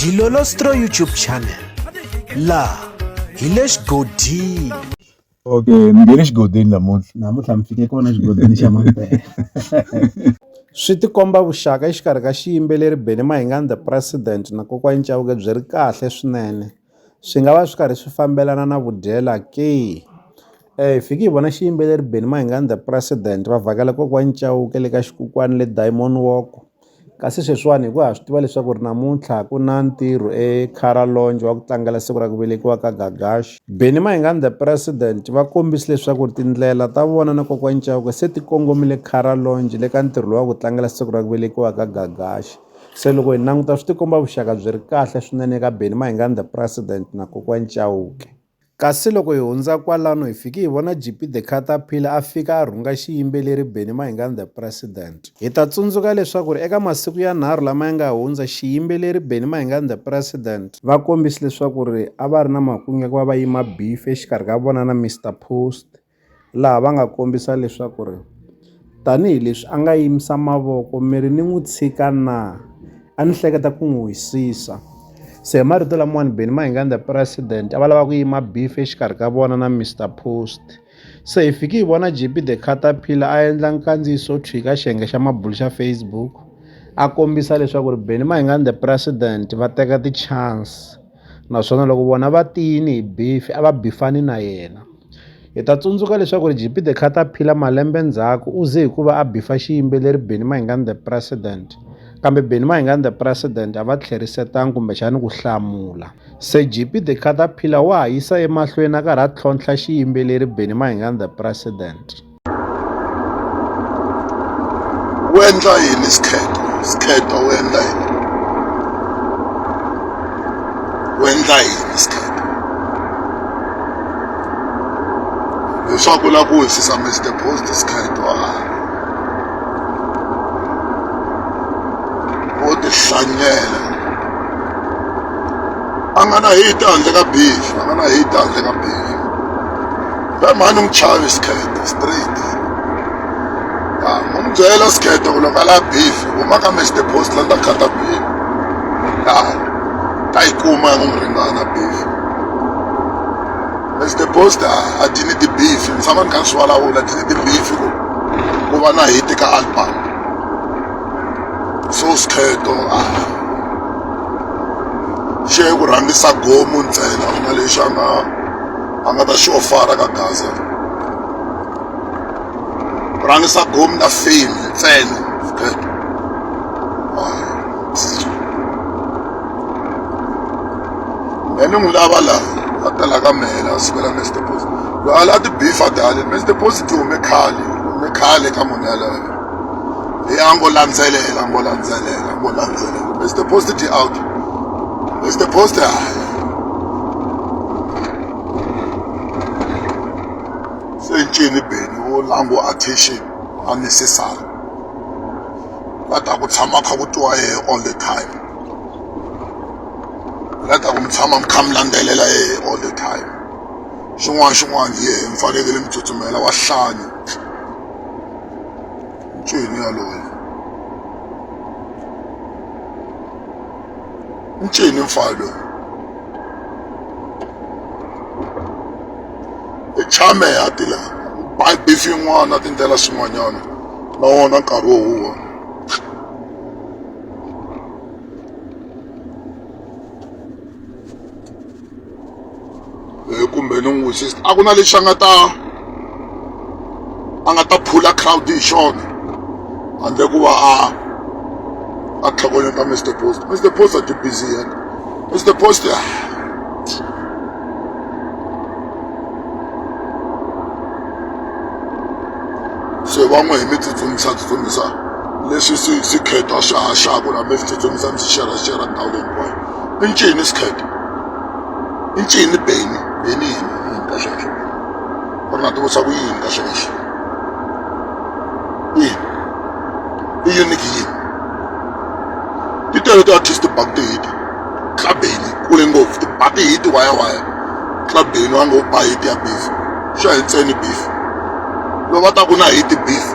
Dilolostro YouTube channel la hi le xigodini okay ni nge le xigodini namuntlha namuntlha mi fike kona xigodini xa mampela swi tikomba vuxaka exikarhi ka xiyimbeleri Benny Mahingani the president na kokwa Nchauke byi ri kahle swinene swi nga va swi karhi swi fambelana na vudyela ke eh hi fiki hi vona xiyimbeleri Benny Mahingani the president va vhakela kokwa Nchauke le ka xikukwani le Diamond Walk Kasi sweswiwani hi ku ha swi tiva leswaku ri namuntlha ku na ntirho eCarolonge wa ku tlangela siku ra ku velekiwa ka Gagash. Benny Mayengani the President va kombise leswaku ri tindlela ta vona na Kokwani Chauke se ti kongomile Carolonge le ka ntirho lowa ku tlangela siku ra ku velekiwa ka Gagash. Se loko hi languta swi ti komba vuxaka byi ri kahle swinene eka Benny Mayengani the President na Kokwani Chauke. Kasi loko hi hundza kwalano hi fike hi vona JP The Caterpillar a fika a rhunga xiyimbeleri Benny Mahingani The President. Hi ta tsundzuka leswaku ri eka masiku yanharhu lama ya nga hundza xiyimbeleri Benny Mahingani The President, va kombise leswaku ri a va ri na makungu ya ku va va yima beef exikarhi ka vona na Mister Post, laha va nga kombisa leswaku ri tanihileswi a nga yimisa mavoko mi ri ni n'wi tshika na a ni hleketa ku n'wi wisisa se hi marito lamawani Benny Mayengani the president a va lava ku yima beef exikarhi ka vona na Mister Post se hi fiki hi vona JP the caterpillar a endla nkandziyiso thwi ka xiyenge xa mabulu xa Facebook a kombisa leswaku ri Benny Mayengani the president va teka ti-chance. naswona loko vona va tiyini hi bifi a va bifani na yena hi ta tsundzuka leswaku ri gp the caterpillar malembe ndzhaku u ze hikuva a bifa xiyimbeleri benny mahingani the president kambe benny mahingani the president a va tlherisetanga kumbexani ku hlamula se gp the caterpillar wa ha yisa emahlweni a karhi a tlhontlha xiyimbeleri benny mahingani the president wu endla yini skhetho skhetho wu endla yini wu endla yini skhetho leswaku u lava ku wisisa Mister Post skhetho a wo tihlanyela a nga na hate handle ka beef a nga na hate handle ka beef. we mhani n'wi chavi skirt straight ya u n'wi byela skirt ku loko a la beef huma ka match the post la ni ta khata beef ya ta yi kuma ya ku n'wi ringana beef match the post a ti ni ti-beef ni tshama ni kha ni swi vulavula ti ni ti-beef ku ku va na hiti ka album so skheto a xi ye ku rhangisa gomu ntsena ku na lexi a nga va nga ta xi ofara ka gaza rhangisa gomi na fame ntsena then n'wi lava la a tela ka mehe la sukela mess deposit loyi ala a ti bifa dale mess deposit hume khale hume khale ka munhu yaloyo leyi a ngo landzelela ngo landzelela ngo landzelela mess deposit out mess deposit haya Sentšene Benny wo la ngo attention unnecessary la ta ku tshama kha ku twa yehe all the time la ta ku mi tshama mi kha mi landzelela yehe all the time xin'wana xin'wana hi yehe mi fanekele mi tsutsumela wa hlanyi ncwini yaloye ncini mfana loyi i tshame a ti la bifi yin'wana a tindlela swin'wanyana na wona nkarhi wo huwa eh, kumbe ni n'wi wisisa a ku na lexi a nga ta a nga ta phula crowd hi xona handle ku va a a tlhogonyeta mr post mr post a ti busy yena mr post ya se va n'wi hi mi tsutsumisa tsutsumisa leswi swi swi kheta swi haxaku la mi swi tsutsumisa mi swi xerhaxerha ndhawu leyi hinkwayo i ncini skate i ncini beni beni yini yini ka sweswo u ri na tivutisa ku yini ka sweswo yini i uniki yini ti tele ti-artist bak tihiti tla beni kule ngopfu ti ba tihiti wayawaya tla beni wa ngo ba hiti ya beef swi ya hi ntseni beef loko va ta ku na hiti beef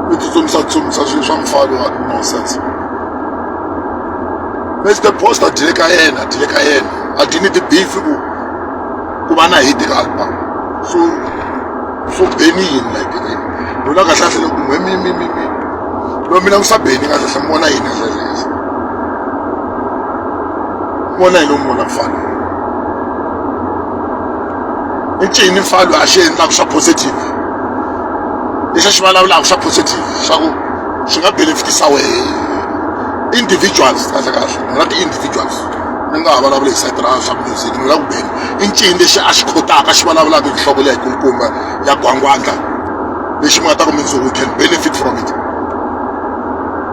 mi tsutsumisa tsutsumisa swilo swa mufalo wa nonsense mr post a dyile ka yena a dyile ka yena a dyi ni ti-beef ku ku va na hit ka album so so beni yini like lona kahlahle loko mhe mi mi mi mi lo mina ngisa beni kahlahle mi vona yini kahlahle vona yini u mi vona mufana i ncini falo a xi endlaka swa positive lexi a xi vulavulaka swa positive swa ku swi nga benefitisa wehe individuals kahle kahle ni nga ti-individuals ni nga ha vulavula hi sayiti ra swa music ni la ku bela i ncini lexi a xi khotaka xi vulavulaka hi nhloko leyi kulukumba ya gwangwandla lexi mi nga ta ku mindzuku can benefit from it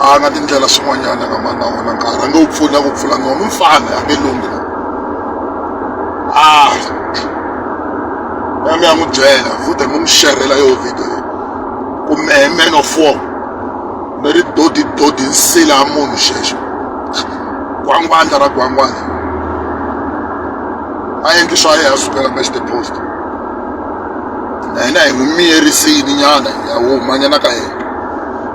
a nga tindlela swin'wanyana ka mani na wona nkarhi a nge wu pfuni a ku pfula nono u mfana a nge lunghi a a mi ya n'wi byela futhi mi n'wi xerhela yo video ku mehe man of war ni ri dodi dodi nsila ya munhu xexo gwangwandla ra gwangwandla a endli swa yena a sukela ka xitepost na hina hi n'wi miyerisini nyana ya humanyana ka yena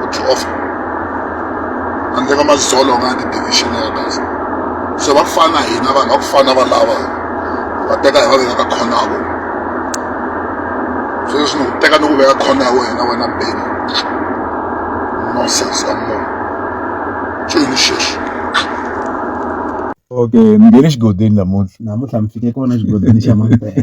ku tshofa handle ka madzolonga ya ti-division ya gaza se va ku fana na hina vanhu va ku fana va lava va teka hi va veka ka khona ya vona sweswi ni ku teka ni ku veka khona ya wena wena beni nonsense ya munhu cini xexi okay mi nge le xigodini namuntlha namuntlha mi fike kona xigodini xa mampela